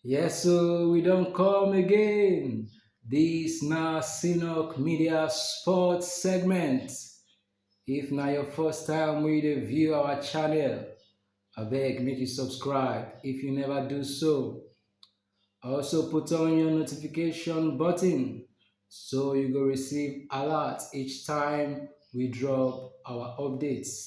Yes, so we don't come again. This na Sinok Media Sports segment. If na your first time we dey view our channel, abeg make you subscribe if you never do so. Also put on your notification button so you go receive alert each time we drop our updates.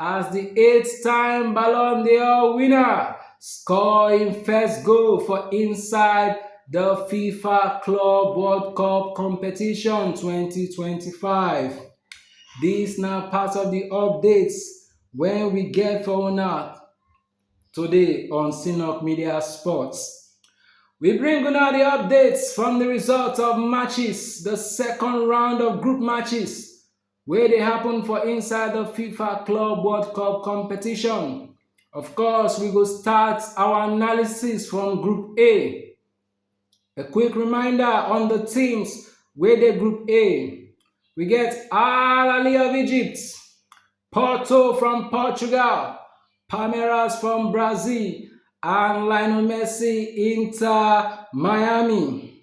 as di eight-time Ballon d'Or winner score im first goal for inside di fifa club world cup competition 2025 dis na part of di updates wey we get for una today on sinok media sports. We bring una the updates from the results of matches, the second round of group matches wey dey happen for inside the FIFA Club World Cup competition. Of course, we go start our analysis from Group A. A quick reminder on the teams wey dey Group A. We get Al Ahly of Egypt, Porto from Portugal, Palmeiras from Brazil, and Lionel Messi Inter Miami.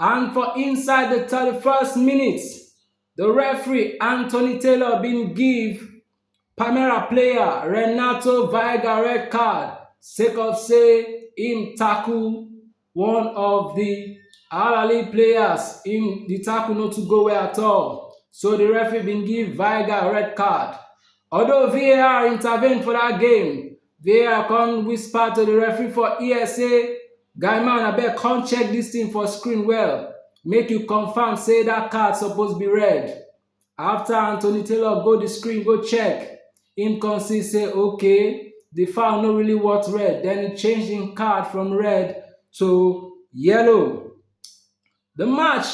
And for inside di 31st minute, di referee Anthony Taylor bin give Palmeiras player Renato Veiga red card sake of say im tackle one of di Al Ahly players, im di tackle no too go well at all so di referee bin give Veiga red card, although VAR intervene for dat game. vr come whisper to the referee for ear say guy man abeg come check this thing for screen well make you confirm say that card suppose be red after anthony taylor go the screen go check him come see say okay the foul no really worth red then he change him card from red to yellow Di match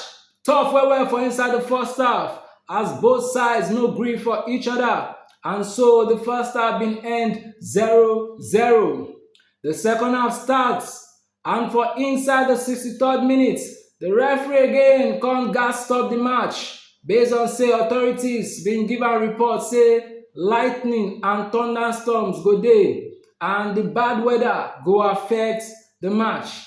tough well well for inside di first half as both sides no gree for each oda and so di first half bin end 0 0. Di second half start and for inside di 63rd minute, di referee again kon gas stop di match base on say authorities bin give am report say lightning and thunderstorms go dey and di bad weather go affect di match.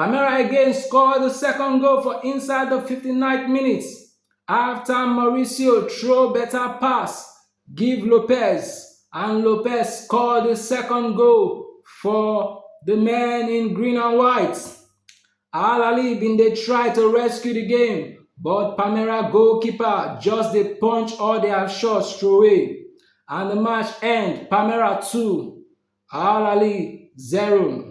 Palmeiras again score di second goal for inside di 59th minute afta Mauricio throw beta pass give Lopez and Lopez score di second goal for di men in green and white. Al Ali bin dey try to rescue di game but Palmeiras goalkeeper just dey punch all dia shots throway and di match end Palmeiras 2, Al Ali 0.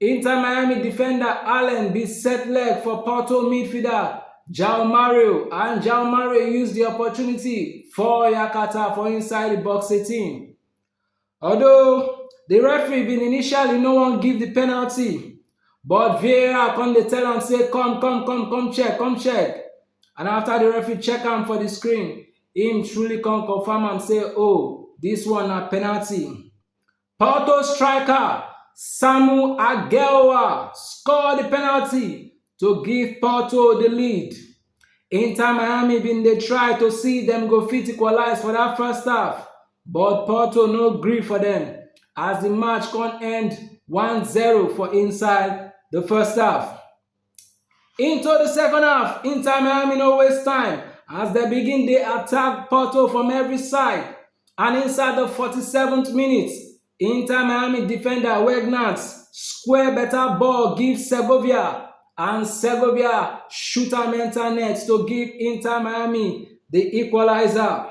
Inter Miami defender Allen bin set leg for Porto midfielder João Mario and João Mario use di opportunity fall yakata for inside di box 18. Although di referee bin initially no wan give di penalty, but VAR come dey tell am say come come come come check come check and after di referee check am for di screen, im truly come confirm am say oh dis one na penalty. Porto striker Samu Aguelwa score di penalty to give Porto di lead. Inter Miami bin dey try to see dem go fit equalize for dat first half, but Porto no gree for dem as di match come end 1-0 for inside di first half. Into di second half, Inter Miami no waste time as dem begin dey attack Porto from every side and inside di 47th minute, Inter Miami defender Weghorst square beta ball give Segovia and Segovia shoot am enter net to give Inter Miami di equaliser.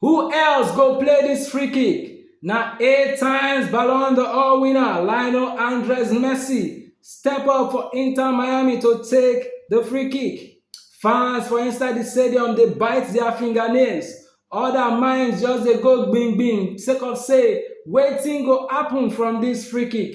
Who else go play dis free kick? Na eight times Ballon d'Or winner Lionel Andres Messi step up for Inter Miami to take di free kick. Fans for inside di stadium dey bite dia fingernails, oda minds just dey go gbim gbim sake of say wetin go happun from dis free kick?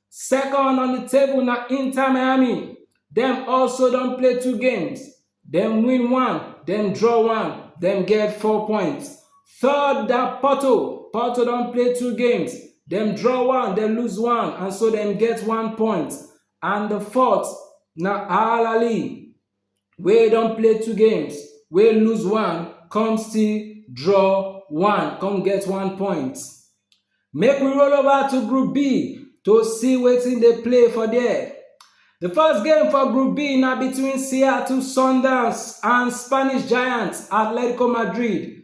Second on di table na Inter Miami, dem also don play two games, dem win one, dem draw one, dem get four points. Third na Porto, Porto don play two games, dem draw one, dem lose one and so dem get one point. And di fourth na Al Ahly, wey don play two games wey lose one come still draw one come get one point make we roll over to group b to see wetin dey play for there the first game for group b na between seattle sundowns and spanish giants atletico madrid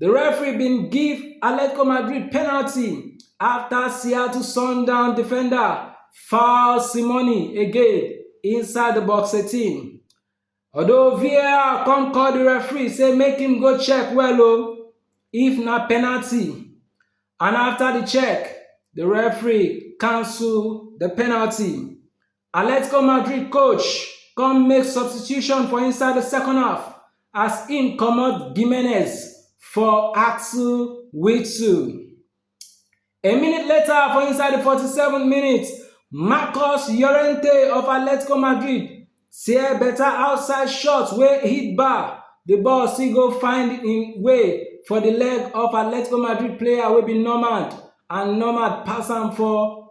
Di referee bin give Atletico Madrid penalty afta Seattle Sundowns defender foul Simoni again inside di box 18, although VAR come call di referee say make im go check well o if na penalty and afta di check, di referee cancel di penalty. Atletico Madrid coach come make substitution for inside the second half as im comot Gimenez for Axel Witsel. A minute later for inside the 47 minutes, Marcos Llorente of Atletico Madrid tear better outside shot wey hit bar, the ball still go find im way for the leg of Atletico Madrid player wey be Nomad and Nomad pass am for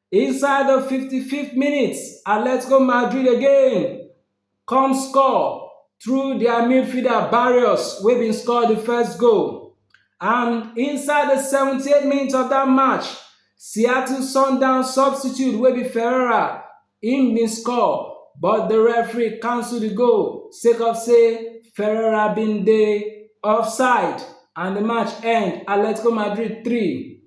Inside the fifty fifth minutes, Atletico Madrid again come score through dia midfielder Barrios wey bin score di first goal. And inside the seventy eight minutes of dat match, Seattle Sundowns substitute wey be Ferreira im bin score but di referee cancel di goal sake of say Ferreira bin dey offside and di match end Atletico Madrid three,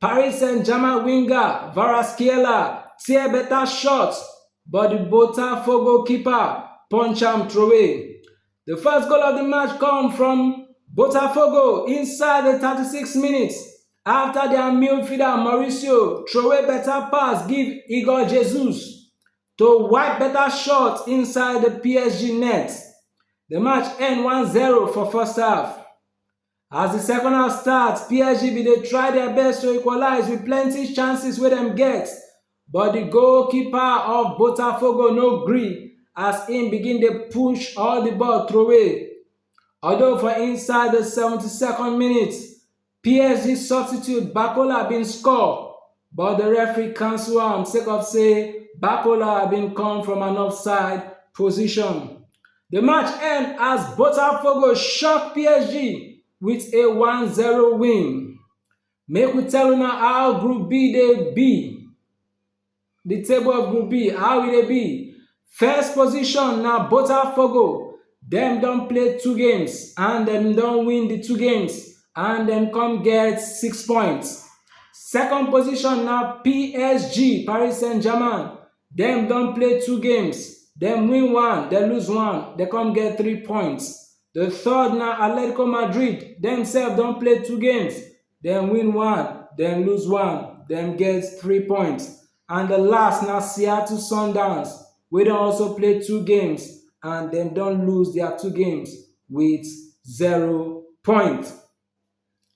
Paris Saint-Germain winger Kvaratskhelia tear better shot but the Botafogo keeper punch am throwaway. The first goal of the match come from Botafogo inside the 36 minutes after their midfielder Mauricio throwaway better pass give Igor Jesus to wipe better shot inside the PSG net. The match end 1-0 for first half. As di second half start, PSG bin dey try dia best to equalize wit plenty chances wey dem get, but di goalkeeper of Botafogo no gree as im begin dey push all di ball throway. Although for inside di 72nd minute, PSG substitute Barcola bin score, but di referee cancel am sake of say Bakola bin come from an offside position. Di match end as Botafogo shock PSG wit a 1-0 win. Make we tell una how Group B dey be. Di table of Group B, how e dey be? First position na Botafogo, dem don play two games and dem don win the two games and dem come get six points. Second position na PSG, Paris Saint-Germain, dem don play two games, dem win one, dem lose one, dem come get three points. The third na Atletico Madrid, dem sef don play two games, dem win one, dem lose one, dem get three points. And the last na Seattle Sundowns wey don also play two games and dem don lose their two games with zero points.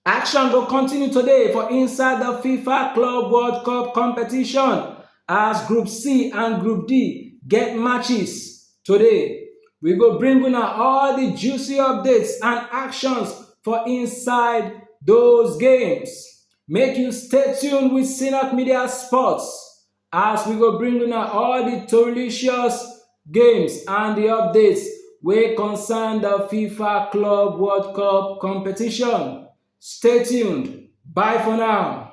Action go continue today for inside the FIFA Club World Cup competition as Group C and Group D get matches. Today, we go bring una all the juicy updates and actions for inside those games. Make you stay tuned with Synapse Media Sports as we go bring una all the delicious games and the updates wey concern the FIFA Club World Cup competition. Stay tuned. Bye for now.